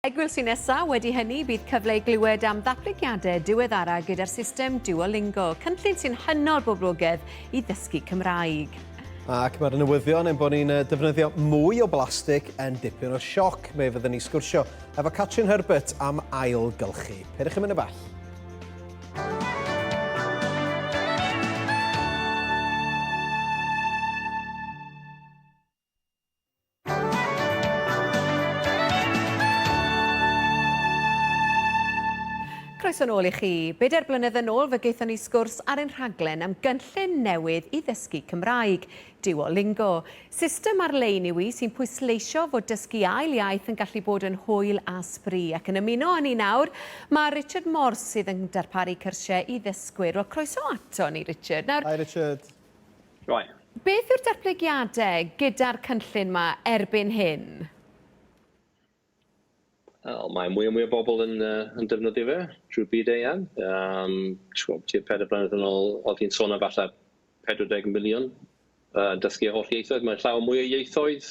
Egwyl sy'n nesaf, wedi hynny, bydd cyfle i glywed am ddatblygiadau diweddara gyda'r system Duolingo, cynllun sy'n hynod boblogedd i ddysgu Cymraeg. Ac mae'r newyddion ein bod ni'n defnyddio mwy o blastig yn dipyn o sioc. Fe fyddwn ni sgwrsio efo Catrin Herbert am ail gylchu. Pyrwch yn mynd y bell. Croeso nôl i chi. Bedair blynedd yn ôl fe gaethon ni sgwrs ar ein rhaglen am gynllun newydd i ddysgu Cymraeg, Duolingo. System ar-lein yw i sy'n pwysleisio fod dysgu ail iaith yn gallu bod yn hwyl a sbri. Ac yn ymuno â ni nawr, mae Richard Morse sydd yn darparu cyrsiau i ddysgwyr. Wel, croeso ato ni, Richard. Nawr... Hi, Richard. Rhain. Beth yw'r datblygiadau gyda'r cynllun 'ma erbyn hyn? Wel, mae mwy a mwy o bobl yn, uh, yn defnyddio fe drwy'r byd eang. Um, Ti'n tua pedair blynedd yn ôl, oedd hi'n sôn am falle 40 miliwn uh, dysgu holl ieithoedd. Mae'n llawer mwy o ieithoedd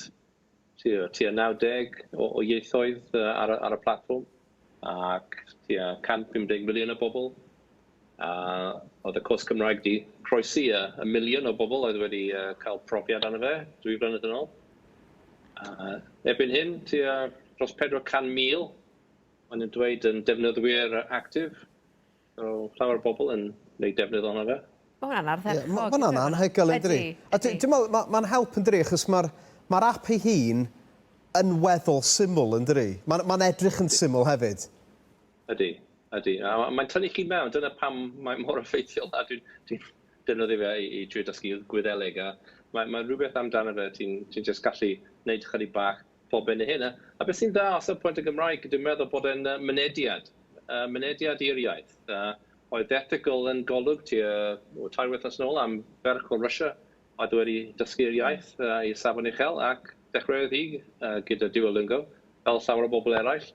tua 90 o o ieithoedd yy ar y ar y platfform ac tua 150 miliwn o bobl a oedd y cwrs Cymraeg 'di croesi yy y miliwn o bobl oedd wedi yy cael profiad arno fe dwy flynedd yn ôl a erbyn hyn tua dros 400,000 ma' nw'n dweud yn defnyddwyr yy actif Mae llawer o bobl yn gwneud defnydd ohono fe. Mae hwnna'n ardderchog. Mae hwnna'n anhygoel yn dydi? A dwi'n meddwl, mae'n ma help yn dydi, achos mae'r ma app ei hun yn weddol syml yn dydi? Mae'n ma edrych yn syml hefyd. Ydy, ydy. A mae'n tynnu chi mewn, dyna pam mae mor effeithiol. A dwi'n dwi defnyddio fe i, i trio dysgu Gwyddeleg, a mae'n ma rhywbeth amdano fe, ti'n ti just gallu gwneud chydig bach pob hyn a hyn. A a beth sy'n dda o safbwynt y Gymraeg, dwi'n meddwl bod e'n yy mynediad, yy mynediad i'r iaith. A oedd The Ethical yn Golwg tua o, tair wythnos yn ôl am ferch o Russia oedd wedi dysgu'r iaith yy i safon uchel ac dechreuodd hi yy gyda Duolingo, fel llawer o bobl eraill.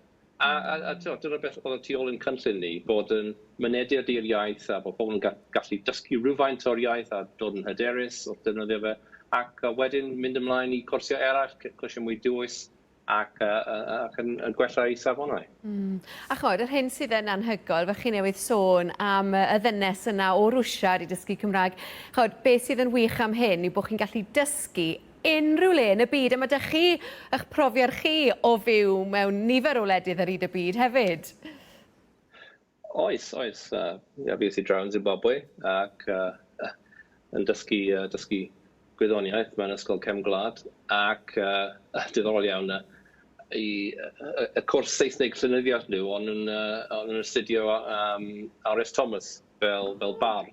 A, a, a tibod, dyna beth oedd y tu ôl i'n cynllun ni, bod yn mynediad i'r iaith a bod pobl yn ga- gallu dysgu rhywfaint o'r iaith a dod yn hyderus wrth ddefnyddio fe, ac uh, wedyn mynd ymlaen i cwrsiau eraill, c- cwrsiau mwy dwys, ac, uh, uh, ac yn, yn gwella eu safonau. Mm. A chymod, yr hyn sydd yn anhygoel, fe chi newydd sôn am y ddynes yna o Rwsia wedi dysgu Cymraeg. Chymod, beth sydd yn wych am hyn yw bod chi'n gallu dysgu unrhyw le yn y byd a ma' 'da chi ych profiad chi o fyw mewn nifer o wledydd ar hyd y byd hefyd. Oes, oes. Yy ie, fues i draw yn Zimbabwe ac yy yn dysgu yy dysgu gwyddoniaeth mewn ysgol cefn gwlad ac yy diddorol iawn yy i yy y cwrs Saesneg llenyddiaeth nhw o'n nhw'n yy o'n nhw'n astudio yym Are Ess Thomas fel fel bardd.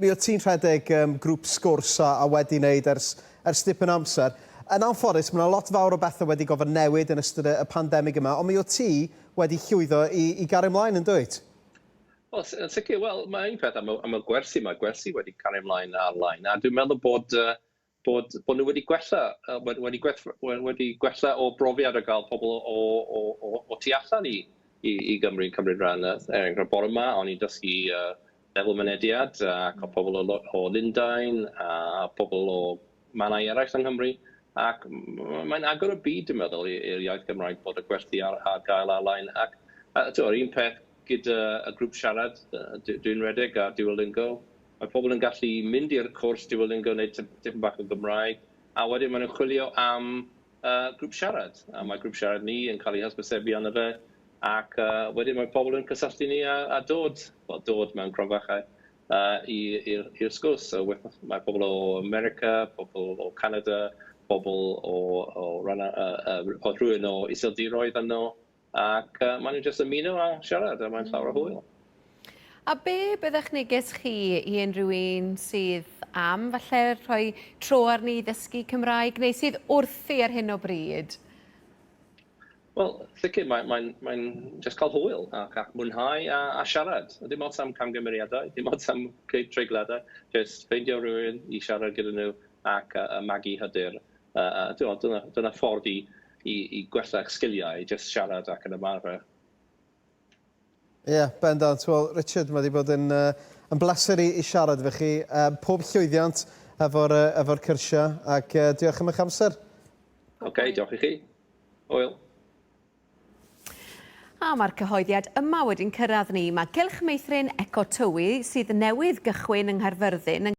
Mi wyt ti'n rhedeg um, grŵp sgwrs a, a wedi wneud ers, ers dipyn amser. Yn anffodus, mae yna lot fawr o bethau wedi gofod newid yn ystod y, y pandemig yma, ond mi wyt ti wedi llwyddo i, i gario ymlaen yn dwyt? Wel, yn sicr, wel, mae un peth am y, am y gwersi, mae gwersi wedi cario ymlaen ar-lein, a dwi'n meddwl bod uh, bod bod nhw wedi gwella yy wedi wedi gwell- we- wedi gwella o brofiad o gael pobl o o o o tu allan i i i Gymru yn cymryd ran yy er enghraifft bore 'ma o'n i'n dysgu yy lefel mynediad yy ac o pobl o lo- o Lundain a pobl o mannau eraill yng Nghymru ac m- m- mae'n agor y byd dwi'n meddwl i- i'r iaith Gymraeg bod y gwersi ar ar gael ar-lein ac yy t'mo' yr un peth gyda y grŵp siarad yy dwi dwi'n redeg ar Duolingo Mae pobl yn gallu mynd i'r cwrs Duolingo, wneud tipyn bach o Gymraeg, a wedyn maen nhw'n chwilio am grŵp siarad, a mae grŵp siarad ni yn cael ei hysbysebu arno fe, ac wedyn mae pobl yn cysylltu ni a dod, wel dod mewn cromfachau, i'r sgwrs. So mae pobl o America, pobl o Canada, pobl o rhywun o Iseldiroedd yno, ac uh, maen nhw'n just ymuno a siarad a mae'n llawer o hwyl. A be byddech neges chi i unrhyw un sydd am falle rhoi tro arni i ddysgu Cymraeg neu sydd wrthi ar hyn o bryd? Wel, sicr, mae'n mae, mae, mae just cael hwyl ac, ac mwynhau a, a siarad. Dim ots am camgymeriadau, dim ots am treigladau, just ffeindio rhywun i siarad gyda nhw ac uh, magu hyder A a t'mod dyna dyna ffordd i i i gwella'ch sgiliau, jyst siarad ac yn ymarfer. Ie, bendant. Wel, Richard, mae wedi bod yn uh, yn bleser i, i siarad efo chi. Uh, pob llwyddiant efo'r uh, efo cyrsiau, ac uh, diolch am eich amser. Oce, okay, diolch i chi. Oel. A mae'r cyhoeddiad yma wedi'n cyrraedd ni. Mae Cylch Meithrin Eco Tywi sydd newydd gychwyn yng Nghaerfyrddin yn